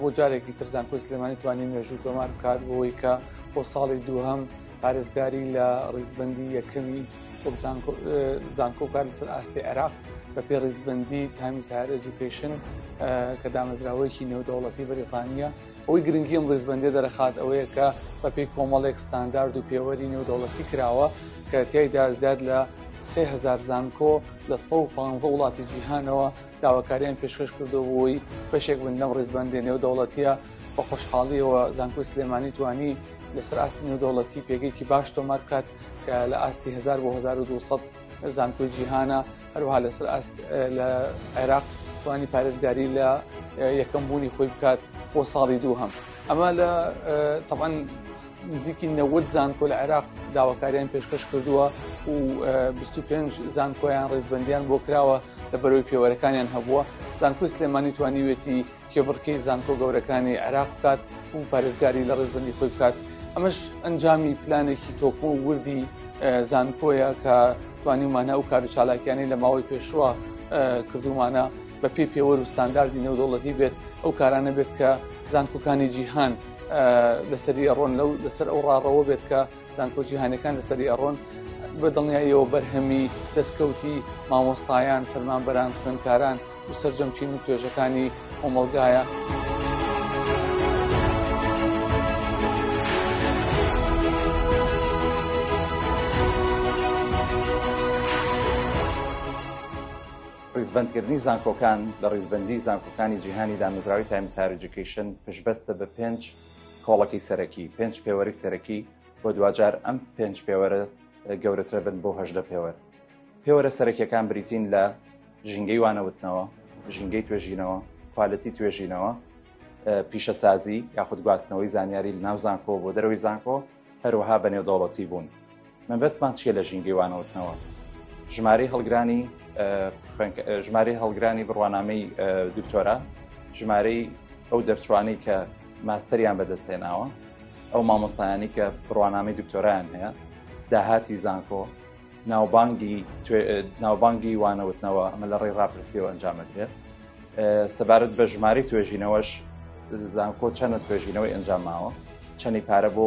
بۆ جارێکی تر زانکۆی سلێمانی توانی مێژوو تۆمار بکات بۆی کە بۆ ساڵی دووهەم پارێزگاری لە ڕیزبندی یەکەمی زانکۆ کار لەسەر ئاستی عێراق بە پێ ڕیزبندی تامی سار ئەجوکیشن کە دامەزراوەیەکی نێودەوڵەتی بەریتانیا ئەوی گرنگی ئەم ڕیزبندی دەرەخات ئەوەیە کە بەپی کۆمەڵێک ستاندارد و پێوەری نێودەوڵەتی کراوە کە تیایدا زیاد لە سهزار زانکۆ لە 150 وڵاتی جیهانەوە داواکاریان پێشکەش کردو بووی بەشێک بن لەم ڕیزبەندێ نێودەوڵەتیە بە خۆشحاڵیەوە زانکۆی سلێمانی توانی لەسەر ئاستی نێودەوڵەتی پێگەیکی باش تۆمار بکات کە لە ئاستی 1000 بۆ 1200 زانکۆی جیهانە هەروها لەسەر ئاست لە عێراق توانی پارێزگاری لە یەکەم بوونی خۆی بکات بۆ ساڵی دوو هەم. ئەمە لە تەعاان نزیکی نەوەد زانکۆ لە عێراق داواکاریان پێشکەش کردووە و 25 زانکۆیان ڕێزبندیان بۆ کراوە لە بەرەوەی پێوەرەکانیان هەبووە زانکۆی سلێمانی توانیوێتی کێبڕکەی زانکۆ گەورەکانی عێراق بکات و پارێزگاری لە ڕێزبندی خۆی بکات ئەمەش ئەنجامی پلانێکی تۆکۆ وردی زانکۆیە کە توانیمانە و کار و چالاکیانی لە ماوەی پێشوە کردومانە بەپێی پێوەر و ستانداردی نێودەوڵەتی بێت ئەو کارانە بێت کە زانکۆکانی جیهان لەسەری ئەڕۆن لەو لەسەر ئەو ڕاڕەوە بێت کە زانکۆ جیهانەکان لەسەری ئەڕۆن بە دڵنیاییەوە بەرهەمی دەستکەوتی مامۆستایان فەرمانبەران خوێنکاران و سەرجەمچین و توێژەکانی کۆمەلگایە. ڕیزبەندکردنی زانکۆکان لە ڕیزبەندی زانکۆکانی جیهانی دامەزراوی تایمز هایەر ئێجوکەیشن پشتبەستە بە پێنج کۆڵەکی سەرەکی، پێنج پێوەری سەرەکی و دواجار ئەم پێنج پێوەرە گەورەترە بن بۆ هەژدە پێوەر. پێوەرە سەرەکیەکان بریتین لە ژینگەی وانەوتنەوە، ژینگەی توێژینەوە، کوالێتی توێژینەوە، پیشەسازی یاخود گواستنەوەی زانیاری لەناو زانکۆ بۆ دەرەوەی زانکۆ، هەروەها بە نێودەوڵەتی بوون مەبەستمان چیە لە ژینگەی وانەوتنەوە ژمارەی هەڵگرانی ژمارەی هەڵگرانی بڕوانامەی دکتۆرا ژمارەی ئەو دەرچوانەی کە ماستەریان بەدەستێناوە ئەو مامۆستایانی کە بڕوانامەی دکتۆرایان هەیە داهاتی زانکۆ ناوبانگی ناوبانگی وانەوتنەوە ئەمە لە ڕێی ڕاپرسیەوە ئەنجامەکرێت سەبارەت بە ژمارەی توێژینەوەش زانکۆ چەندە توێژینەوەی ئەنجام ماوە چەنی پارە بۆ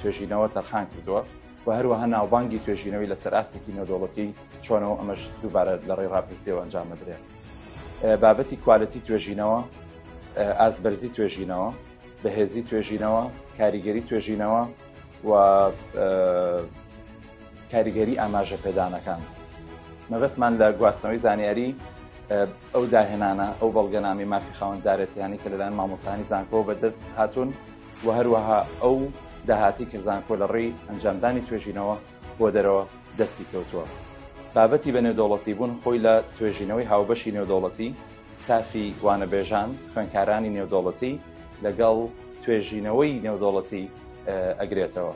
توێژینەوە تەرخان کردووە و هەروەها ناوبانگی توێژینەوەی لەسەر ئاستێکی نەدۆڵەتی چۆنەوە ئەمەش دووبارە لە ڕێ ڕاپرسیەوە ئەنجام بدرێت بابەتی کوالەتی توێژینەوە ئاسبەرزی توێژینەوە بەهێزی توێژینەوە کاریگەری توێژینەوە و کاریگەری ئاماژە پێدانەکان مەبەستمان لە گواستنەوەی زانیاری ئەو داهێنانە ئەو بەڵگەنامەی مافی خاوەندارێتیانی کە لەلایەن مامۆستانی زانکۆ بەدەست هاتوون و هەروەها ئەو داهاتی کە زانکۆ لە ڕێی ئەنجامدانی توێژینەوە بۆ دەرەوە دەستی کەوتووە بابەتی بە نێودەوڵەتی بوون خۆی لە توێژینەوەی هاوبەشی نێودەوڵەتی ستافی وانەبێژان خوێنکارانی نێودەوڵەتی لەگەڵ توێژینەوەی نێودەوڵەتی ئەگرێتەوە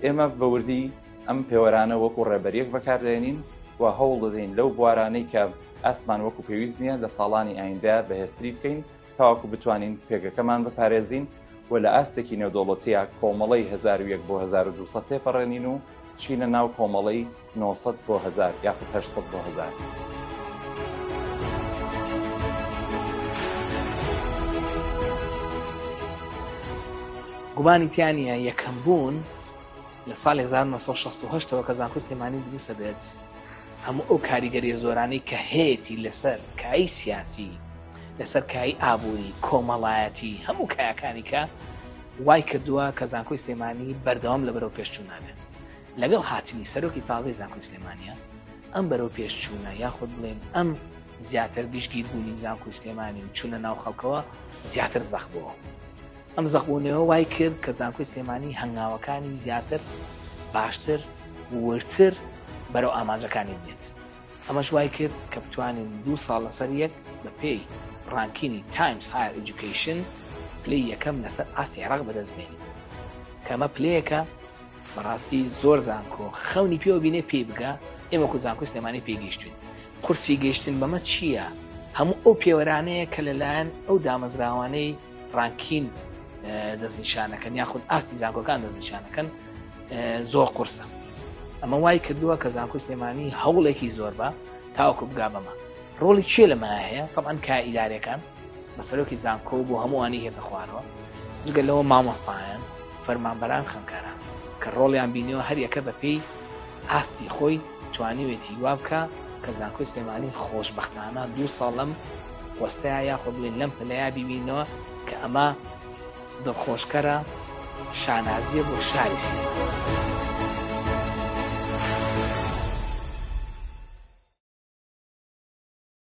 ئێمە بەوردی ئەم پێوەرانە وەکو ڕێبەریەک بەکاردێنین و هەوڵ دەدەین لەو بوارانەی کە ئاستمان وەکو پێویست نییە لە ساڵانی ئایندە بەهێزتری بکەین تاواکو بتوانین پێگەکەمان بپارێزین و لە ئاستێکی نێودەوڵەتیە کۆمەڵی 1970 بۆ 1970 تێپەڕێنین و چینە ناو کۆمەڵی 900 بۆ 1000 یاخود 800 بۆ 1000. گومانی تیانە یەکەم بوون لە ساڵی 1968 ەوە کە زانکۆی سلێمانی دروستە بێت هەموو ئەو کاریگەری زۆرانی کە هەیەی لەسەر کایی سیاسی لەسەر کایی ئابووری کۆمەڵایەتی هەموو کایەکانی کە وای کردووە کە زانکۆی سلێمانی بەردەوام لە بەرەو پێشچوو نابێت لەگەڵ هاتنی سەرۆکی تازی زانکۆی سلێمانە ئەم بەرەو پێشچوونە یاخود بڵێن ئەم زیاتر گشتگیر بوونی زانکۆی سلێمانی و چونە ناو خەڵکەوە زیاتر زەخبووە ئەم زەقبوونەوە وای کرد کە زانکۆی سلێمانی هەنگاوەکانی زیاتر باشتر وردتر بەرەو ئامانجەکانی بێت ئەمەش وای کرد کە بتوانین دوو ساڵ لەسەر یەک بە پێی ڕانکینی تایمز هایر ئەجوکیشن پلی یەکەم لەسەر ئاستی عێراق بەدەست بێنین کەمە پلەیەکە بەڕاستی زۆر زانکۆ خەونی پێوە بینێ پێی بگە ئێمە کو زانکۆ سلێمانی پێگەیشتوین قورسی گەیشتن بەمە چییە؟ هەموو ئەو پێوەرانەیە کە لەلایەن ئەو دامەزراوانەی ڕانکین دەستنیشانەکەن یاخود ئاستی زانکۆکان دەستنیشانەکەن زۆر قورسە ئەمە وای کردووە کە زانکۆی سلێمانی هەوڵێکی زۆر بە تاوکو بگا بەمە ڕۆڵی چێ لەمە هەیە طبعاان کا ئیدارەکان بە سەرۆکی زانکۆ بۆ هەمووانی هێتە خوارەوە جگە لەوە مامۆستایان فەرمانبەران خەنکاران کە ڕۆڵیان بینیەوە هەریەکە بەپێی ئاستی خۆی توانیوێتی وا بکا کە زانکۆی سلێمانی خۆشبەختانە دوو ساڵ لەم پۆستەیە یاخۆ بڵێن لەم پلەیە بیبینەوە کە ئەمە دڵخۆشکەرە شانازیە بۆ شاری سلێمانی.